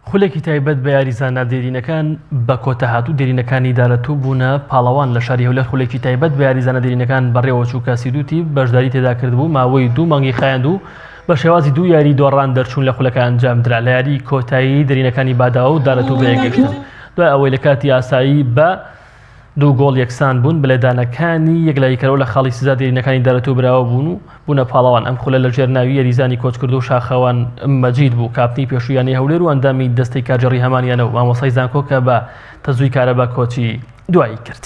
خولێکی تایبەت بە یاریزانە دێرینەکان بە کۆتا هاتوو دێرینەکانی دارەتوو بوونە پاڵەوان لە شاری هەولێر خولێکی تایبەت بە یاریزانە دێرینەکان بەڕێوەچوو کە سیدوتی بەشداری تێدا کردبوو ماوەی دوو مانگی خایاند و بە شێوازی دوو یاری دۆڕان دەرچوون لە خولەکە ئەنجام درا لە یاری کۆتایی دێرینەکانی باداوە و دارەتوو بەیەکگەشتن دوای ئەوەی لە کاتی ئاسایی بە دوو گۆڵ یەکسان بوون، بەلێدانەکانی یەکلاییکەرەوە لە خاڵی سزا دێرینەکانی دارەتۆو براوە بوون و بوونە پاڵەوان، ئەم خولە لەژێر ناوی یەریزانی کۆچکردوو شاخەوان مەجید بوو، کاپتنی پێشووی یانەی هەولێر و ئەندامی دەستەی کارگێڕی هەمان یانە و مامۆستای زانکۆ کە بە تەزووی کارەبا کۆچی دوایی کرد.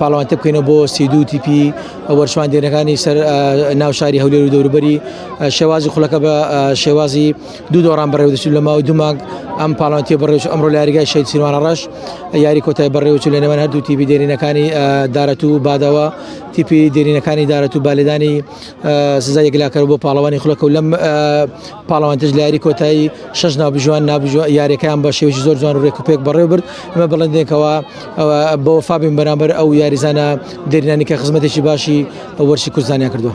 پاڵەوانتە بکەینەوە بۆ سی دوو تیپی وەرچواندێنەکانی سەر ناو شاری هەولێر و دەوروبەری شێوازی خولەکە بە شێوازی دوو دۆڕان بەڕێوەدەچوو لە ماوەی دومانگ ئەم پاڵانتی بەڕێوچ ئەمڕۆ لە یاریگای شەید سیروانە ڕەش یاری کۆتای بەڕێوەچوو لە نێوان هەردوو تیپی دێرینەکانی دارەت و بادەوە تیپی دێرینەکانی دارەت و بالێدانی سزا یەکلاکەر بۆ پاڵەوانی خولەکە و لەم پاڵەوانتیش لە یاری کۆتایی شەش ناوبژوان نابژوە یاریەکەیان بە شێوەی زۆر جوان و ڕێک و پێک بەڕێ برد ئەمە بڵندێکەوە بۆ فابین بەرامبەر ئەو یاریزانە دێرینانی کە خزمەتێکی باشی وەرشی کوردستانیان کردووە.